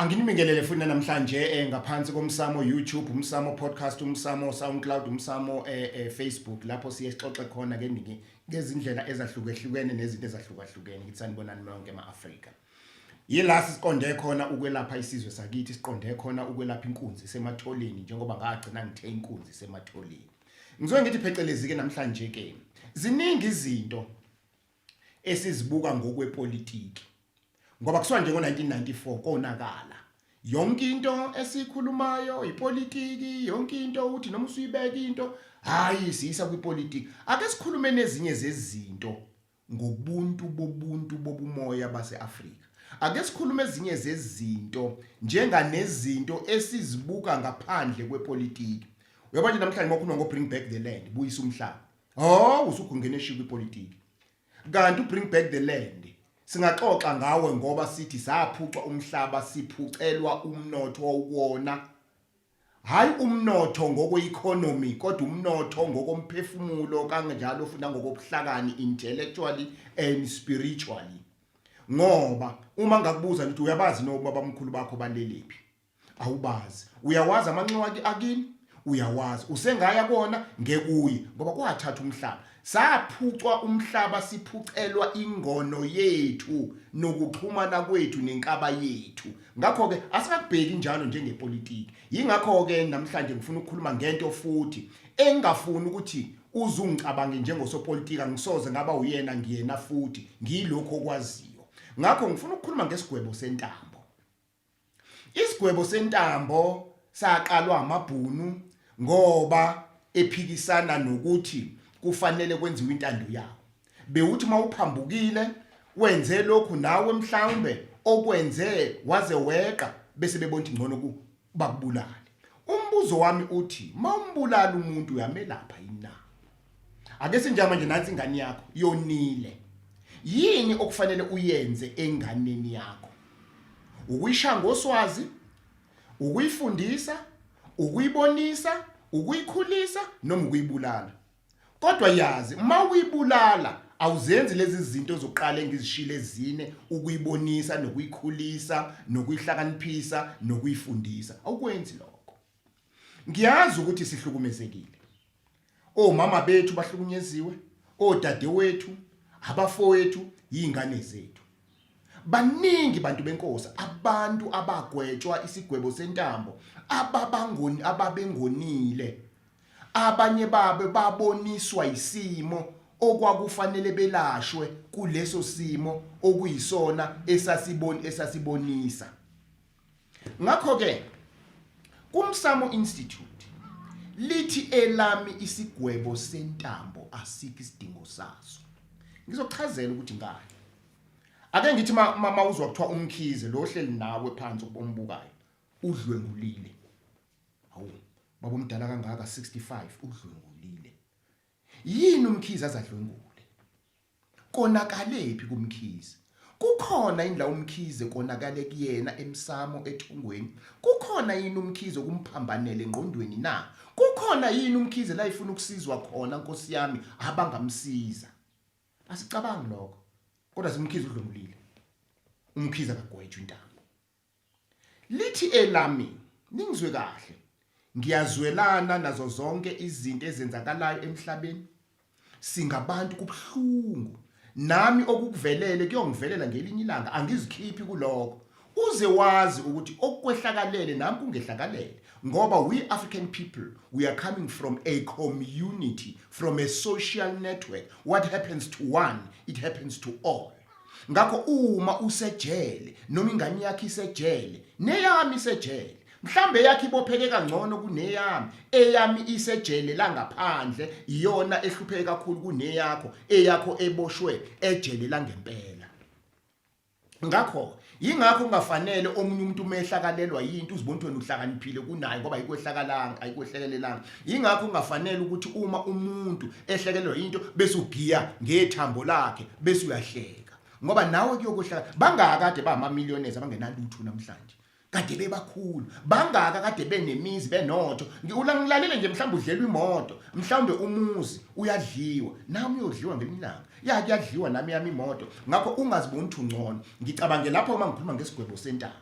Anginibingelele futhi namhlanje eh, ngaphansi komsamo YouTube, umsamo podcast, umsamo SoundCloud, umsamo eh, eh, Facebook lapho siye sixoxe khona ke niki ngezindlela ezahlukehlukene nezinto ezahlukahlukene ukuthi sanibonani nonke ema-Afrika. Yila siqonde khona ukwelapha isizwe sakithi, siqonde khona ukwelapha inkunzi sematholeni njengoba ngagcina ngithe inkunzi sematholeni. Ngizoke ngithi phecelezi ke namhlanje ke. Ziningi izinto esizibuka ngokwepolitiki ngoba kusuka nje ngo-1994 konakala yonke into esikhulumayo ipolitiki yonke into uthi noma usuyibeka into hayi siyisa kwipolitiki ake sikhulume nezinye zezinto ngobuntu bobuntu bobumoya base-afrika ake sikhulume ezinye zezinto njenganezinto esizibuka ngaphandle kwepolitiki uyabona namhlanje makhuluma ngo-bring back the land buyisa umhlaba Oh usugungene shiya kwipolitiki. Kanti u bring back the land. Singaxoxa ngawe ngoba sithi saphucwa umhlaba siphucelwa umnotho wona. Hayi umnotho ngokweeconomy kodwa umnotho ngokomphefumulo kanjalo futhi nangokobuhlakani intellectually and spiritually. Ngoba uma ngakubuza ngithi uyabazi noma babamkhulu bakho balelephi? awubazi uyawazi amanxiwa akini uyawazi usengaya kona ngekuye ngoba kwathatha umhlaba saphucwa umhlaba siphucelwa ingono yethu nokuxhumana kwethu nenkaba yethu ngakho ke asingakubheki njalo njengepolitiki yingakho ke namhlanje ngifuna ukukhuluma ngento futhi engafuni ukuthi uzungicabange njengosopolitika ngisoze ngaba uyena ngiyena futhi ngiyilokho okwaziyo ngakho ngifuna ukukhuluma ngesigwebo sentambo Isigwebo sentambo saqalwa amaBhunu ngoba ephikisana nokuthi kufanele kwenziwe intando yawo. Bewuthi uma uphambukile wenze lokhu nawe mhlawumbe okwenze waze weqa bese bebona ukuthi ngcono bakubulale. Umbuzo wami uthi mawumbulala umuntu uyamelapha yini na? ake sinjama nje nansi ingane yakho yonile yini okufanele uyenze enganeni yakho ukuyishaya ngoswazi ukuyifundisa ukuyibonisa ukuyikhulisa noma ukuyibulala kodwa yazi uma uyibulala awuzenzi lezi zinto zokuqala engizishile ezine ukuyibonisa nokuyikhulisa nokuyihlakaniphisa nokuyifundisa awukwenzi lokho Ngiyazi ukuthi sihlukumezekile. Omama bethu bahlukunyeziwe, odade wethu, abafowethu, yingane zethu. Baningi bantu benkosi abantu abagwetshwa isigwebo sentambo ababangoni ababengonile. Abanye babo baboniswa isimo okwakufanele belashwe kuleso simo okuyisona esasiboni esasibonisa. ngakho ke kumsamo institute lithi elami isigwebo sentambo asiki isidingo saso ngizochazela ukuthi ngani ake ngithi mama uzwa kuthiwa umkhize lo ohleli nawe phansi ubombukayo udlwengulile hawu baba omdala kangaka 65 udlwengulile yini umkhize azadlwengula Konakalephi kuMkhize? Kukhona yini la uMkhize konakale kuyena emsamo ethongweni? Kukhona yini uMkhize okumphambanele engqondweni na? Kukhona yini uMkhize la efuna ukusizwa khona Nkosi yami abangamsiza? Asicabangi lokho. Kodwa siMkhize udlomulile. UMkhize akagwetshwe intambo. Lithi elami, ningizwe kahle, ngiyazwelana nazo zonke izinto ezenzakalayo emhlabeni. Singabantu kubuhlungu. Nami okukuvelele kuyongivelela ngelinye ilanga, angizikhiphi kuloko. Uze wazi ukuthi okukwehlakalele nami kungehlakalele ngoba we African people we are coming from a community from a social network what happens to one it happens to all ngakho uma usejele noma ingane yakhe isejele neyami isejele mhlambe yakhe ibopheke kangcono kuneyami eyami isejele langaphandle iyona ehlupheke kakhulu kuneyakho eyakho eboshwe ejele langempela ngakho Yingakho kungafanele omunye umuntu uma ehlakalelwa yinto uzibona ukuthi wena uhlakaniphile kunaye ngoba ayikwehlakalanga ayikwehlekelelanga. Yingakho kungafanele ukuthi uma umuntu ehlekelelwa yinto bese ugiya ngethambo lakhe bese uyahleka. Ngoba nawe kuyokohlaka bangaka kade ba ama millionaires abangenalutho namhlanje. Kade bebakhulu. Bangaka kade benemizi benotho. Ngiwulangilalele nje mhlawumbe udlelwa imoto, mhlawumbe umuzi uyadliwa. Nami uyodliwa ngelinye ilanga. ya kuyadliwa nami yami imoto ngakho ungaziboni ukuthi ungcono ngicabange lapho uma ngikhuluma ngesigwebo sentambo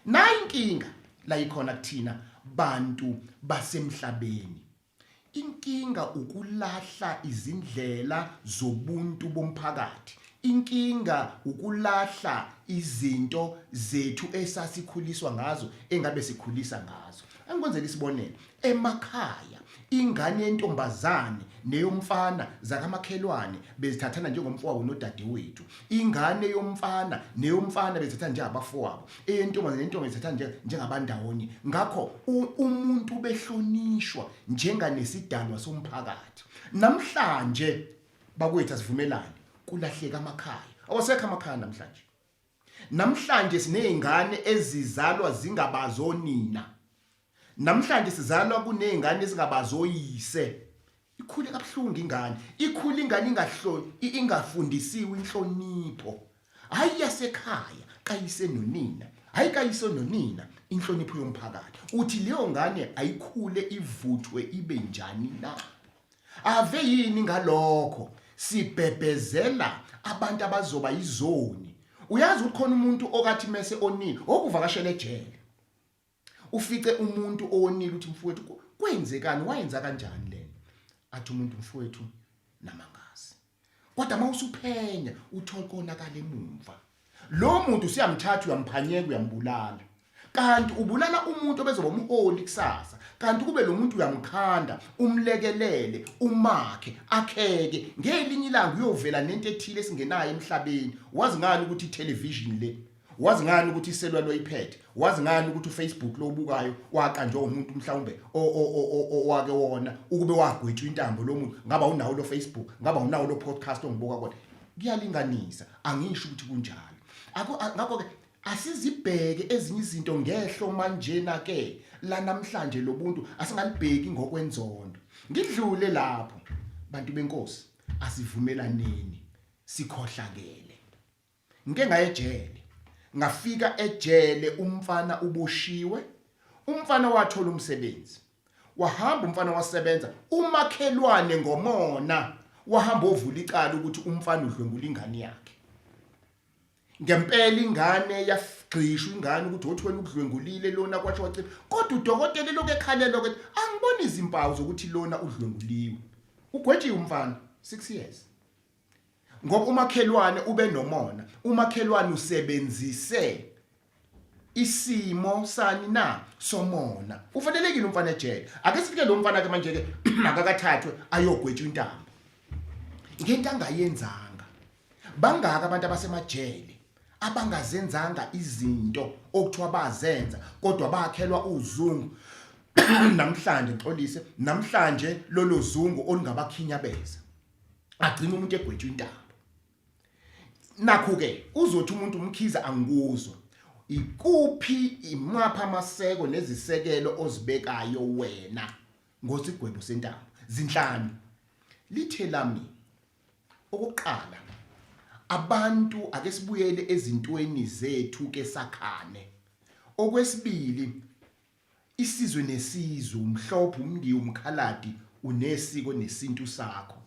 nayi inkinga la ikhona kuthina bantu basemhlabeni inkinga ukulahla izindlela zobuntu bomphakathi inkinga ukulahla izinto zethu esasikhuliswa ngazo engabe sikhulisa ngazo Angikwenzela isibonelo, emakhaya ingane yentombazane neyomfana zakamakhelwane bezithathana njengomfowabo nodadewethu. Ingane yomfana neyomfana bezithathana njengabafowabo. Eyentombazane nentombi bezithathana nje njengabandawonye. Ngakho u- umuntu ubehlonishwa njenganesidalwa somphakathi. Namhlanje bakwethu asivumelane kulahleka amakhaya. Awasekho amakhaya namhlanje. Namhlanje sinezingane ezizalwa zingabazi onina. Namhlanje sizalwa kunezingane ezingabazi oyise. Ikhule kabuhlungu ingane. Ikhule ingane ingahloni ingafundisiwe inhlonipho. Hayi yasekhaya kayise nonina. Hayi kayise nonina inhlonipho yomphakathi. Uthi leyo ngane ayikhule ivuthwe ibe njani na? Ave yini ngalokho sibhebhezela abantu abazoba izoni. Uyazi ukuthi khona umuntu okathi mese onile okuvakashela ejele. Ufice umuntu owonile uthi mfowethu kwenzekani wayenza kanjani lena? Athi umuntu mfowethu namangazi. kodwa uma usuphenya uthole konakala emumva lo muntu usiyamthatha uyamphanyeka uyambulala kanti ubulala umuntu obezoba umholi kusasa kanti kube lo muntu uyamkhanda umlekelele umakhe akheke ngelinye ilanga uyovela nento ethile esingenayo emhlabeni wazi ngani ukuthi itelevision le wazi ngani ukuthi iselwa loyiphethe wazi ngani ukuthi ufacebook lobukayo waka nje umuntu mhlawumbe owake wona ukube wagwetshwa intambo lo muntu ngaba unawo lo facebook ngaba unawo lo podcast ongibuka kodwa kuyalinganisa angisho ukuthi kunjalo ngakho ke asizibheke ezinye izinto ngehlo manjena ke la namhlanje lobuntu asingalibheki ngokwenzondo ngidlule lapho bantu benkosi asivumelaneni sikhohlakele Ngike ngaye ejele. Ngafika ejele umfana uboshiwe. Umfana wathola umsebenzi. Wahamba umfana wasebenza umakhelwane ngomona wahamba ovula icala ukuthi umfana udlwengula ingane yakhe. Ngempela ingane yagxishwa ingane ukuthi othi wena ukudlwengulile lona kwasho wacela kodwa udokotela lokho ekhalela ukuthi angiboni izimpawu zokuthi lona udlwenguliwe. Ugwetshiwe umfana 6 years. ngoba umakhelwane ube nomona umakhelwane usebenzise isimo sani na somona ufanelekile umfana ejele ake sifike lo mfana ke manje ke akakathathwe ayogwetshwa intambo ngento angayenzanga bangaka abantu abasemajele abangazenzanga izinto okuthiwa bazenza kodwa bakhelwa uzungu namhlanje ngixolise namhlanje lolo zungu olungabakhinyabeza agcina umuntu egwetshwa intaba nakho ke uzothi umuntu umkhiza angikuzwa ikuphi imapha amaseko nezisekelo ozibekayo wena ngosigwebo sentaba zinhlanu lithe lami okuqala abantu ake sibuyele ezintweni zethu ke sakhane okwesibili Isizwe nesizwe, umhlophe, umndiya, umkhaladi, unesiko nesintu sakho.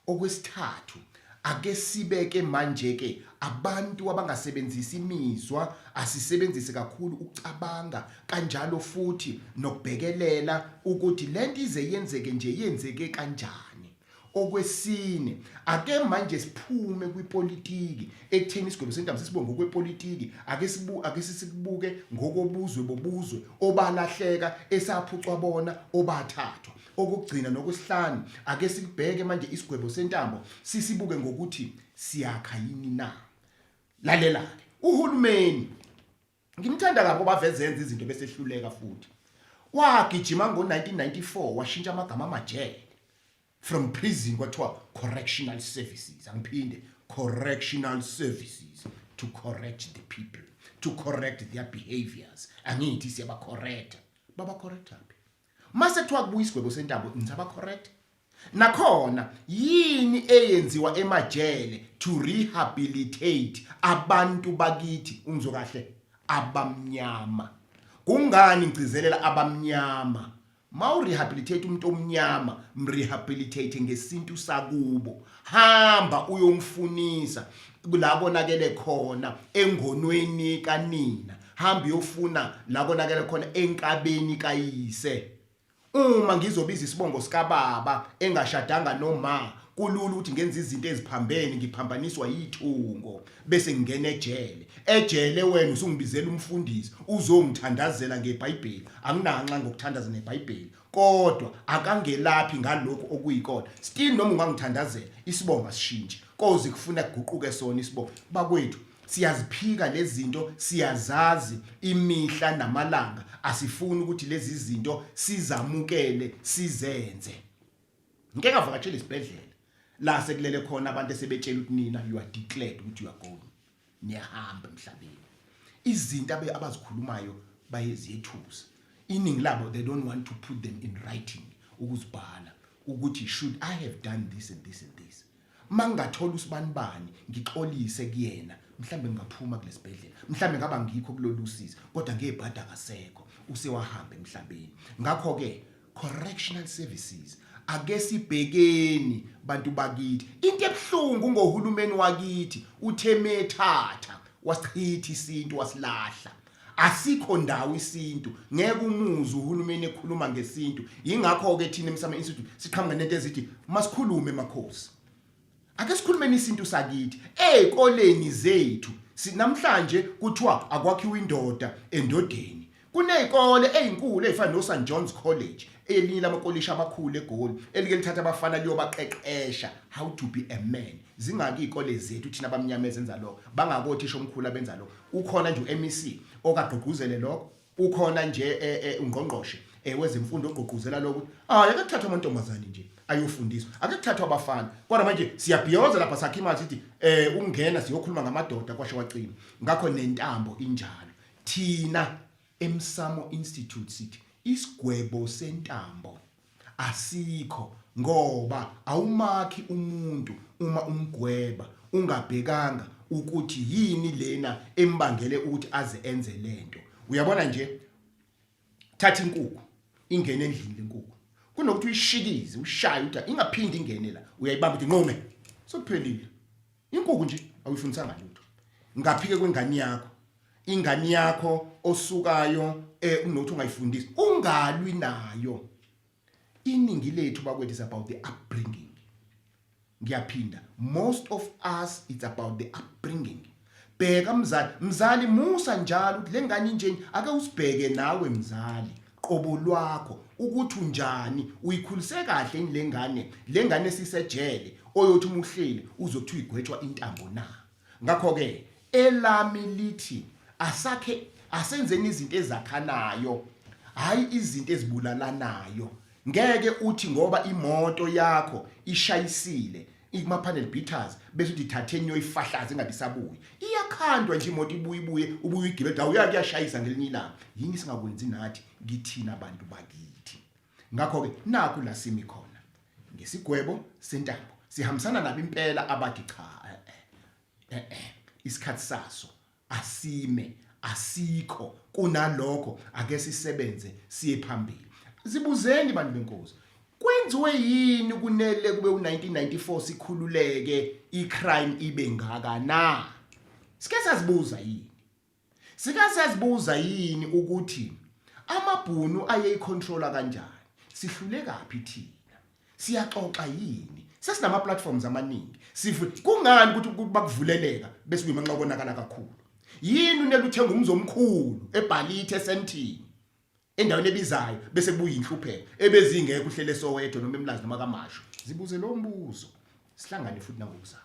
Okwesithathu, ake sibe ke manje ke abantu abangasebenzisi imizwa, asisebenzise kakhulu ukucabanga kanjalo futhi nokubhekelela ukuthi lento ize yenzeke nje yenzeke kanjani. Okwesine, ake manje siphume kwipolitiki ekutheni isigwebo sentambo sesibonge ngokwepolitiki, ake sibu ake sisibuke ngokobuzwe bobuzwe obalahleka esaphucwa bona obathathwa. Okugcina nokwesihlanu, ake sikubheke manje isigwebo sentambo sisibuke ngokuthi siyakha yini na. Lalela-ke, uhulumeni Ngimthanda kabi ngoba veze yenza izinto bese ehluleka futhi. Wagijima ngo-1994 washintsha amagama amajele from prison kwathiwa correctional services angiphinde correctional services to correct the people to correct their behaviors angithi siyabacorrecta babacorrectaphi mase kuthiwa kubuya isigwebo sentambo ngithi abacorrecte Nakhona yini eyenziwa emajele to rehabilitate abantu bakithi ungizwe kahle abamnyama. Kungani ngigcizelela abamnyama? Mawu rehabilitate umuntu omnyama, mrehabilitate ngesintu sakubo. Hamba uyomfunisa la konakele khona engonweni kanina. Hamba uyofuna la konakele khona enkabeni kayise. Uma ngizobiza isibongo sikababa engashadanga noma kulula ukuthi ngenze izinto eziphambene ngiphambaniswa yithungo bese ngingena ejele ejele wena usungibizela umfundisi uzongithandazela ngebhayibheli anginanxa ngokuthandaza nebhayibheli kodwa akangelaphi ngalokho okuyikona still noma ungangithandazela isibongo asishintshe koze kufuna kuguquke sona isibongo bakwethu Siyaziphika lezinto siyazazi imihla namalanga asifuni ukuthi lezi zinto sizamukele sizenze. Ngike ngavakashela isibhedlela la sekulele khona abantu esebetshela ukuthi nina you are declared ukuthi you are going niyahamba emhlabeni izinto abe abazikhulumayo bayeziyethusa iningi labo they don't want to put them in writing ukuzibhala ukuthi should i have done this and this and this Mangingathola usibanibani ngixolise kuyena mhlambe ngingaphuma kulesibhedlela mhlambe ngaba ngikho kulolusizi kodwa ngebhadi akasekho usewahamba emhlabeni ngakho ke correctional services ake sibhekeni bantu bakithi into ebuhlungu ngohulumeni wakithi uthe methatha wasichitha isintu wasilahla Asikho ndawo isintu ngeke umuzi uhulumeni ekhuluma ngesintu ingakho ke thina emsama institute siqhamuka nento ezithi masikhulume makhosi ake sikhulumeni isintu sakithi ezikoleni zethu sinamhlanje kuthiwa akwakhiwa indoda endodeni kunezikole ezinkulu ezifana no St John's College elinye lamakolishi amakhulu eGoli elike lithatha abafana liyobaqeqesha how to be a man zingaki izikole zethu thina abamnyama ezenza lokho bangakothisha omkhulu abenza lokho ukhona nje uMEC okagqugquzele lokho ukhona nje eh, eh, ungqongqoshe eh, wezemfundo ogqugquzela lokho hayi akuthathwa amantombazane nje ayofundiswa akuthathwa abafana kodwa manje siyabhiyoza lapha sakhe imali sithi eh ungena siyokhuluma ngamadoda kwasho wacina ngakho nentambo injalo thina emsamo institute sithi isigwebo sentambo asikho ngoba awumakhi umuntu uma umgweba ungabhekanga ukuthi yini lena embangele ukuthi aze enze lento uyabona nje thatha inkukhu ingene endlini lenkukhu kunokuthi uyishikize ushaye uthi ingaphindi ingene la uyayibamba uthi nqume sokuphelile inkukhu nje awuyifundisanga lutho ngaphike kwengane yakho ingane yakho osukayo eh unothi ungayifundisi ungalwi nayo iningi lethu bakwethu is about the upbringing ngiyaphinda most of us it's about the upbringing bheka mzali mzali musa njalo ukuthi lengane injeni ake usibheke nawe mzali qobo lwakho ukuthi unjani uyikhulise kahle inilengane lengane sisejele oyothi umuhleli uzothi uyigwetshwa intambo na ngakho ke elami lithi asakhe asenzeni izinto ezakhanayo hayi izinto ezibulalanayo ngeke uthi ngoba imoto yakho ishayisile ikuma panel beaters bese uthi thatheni yoyifahlaza ingabe isabuyi iyakhandwa nje imoto ibuye ibuye ubuye igibela awuyake yashayisa ngelinye ilanga yini singakwenzi nathi kithina abantu bakithi Ngakho-ke nakhu la simi khona ngesigwebo sentambo sihambisana nabo impela abathi cha eh, eh, eh, isikhathi saso asime asikho kunalokho ake sisebenze siye phambili zibuzeni bantu benkosi kwenziwe yini kunele kube u1994 sikhululeke icrime ibe ngaka na sike sazibuza yini Sika siyazibuza yini ukuthi amabhunu ayeyicontrola kanjani? Sihlulekaphi thina? Siyaxoxa yini? Sesinama platforms amaningi. Sifu kungani ukuthi kuba kuvuleleka bese kuyimanxa konakala kakhulu. Yini uneluthenga umzi omkhulu ebhalite esentini endaweni ebizayo bese kubuya inhlupheko ebezingeke uhlele sowedo noma emlazi noma kamasho. Zibuze lo mbuzo. Sihlangane futhi nangokuzayo.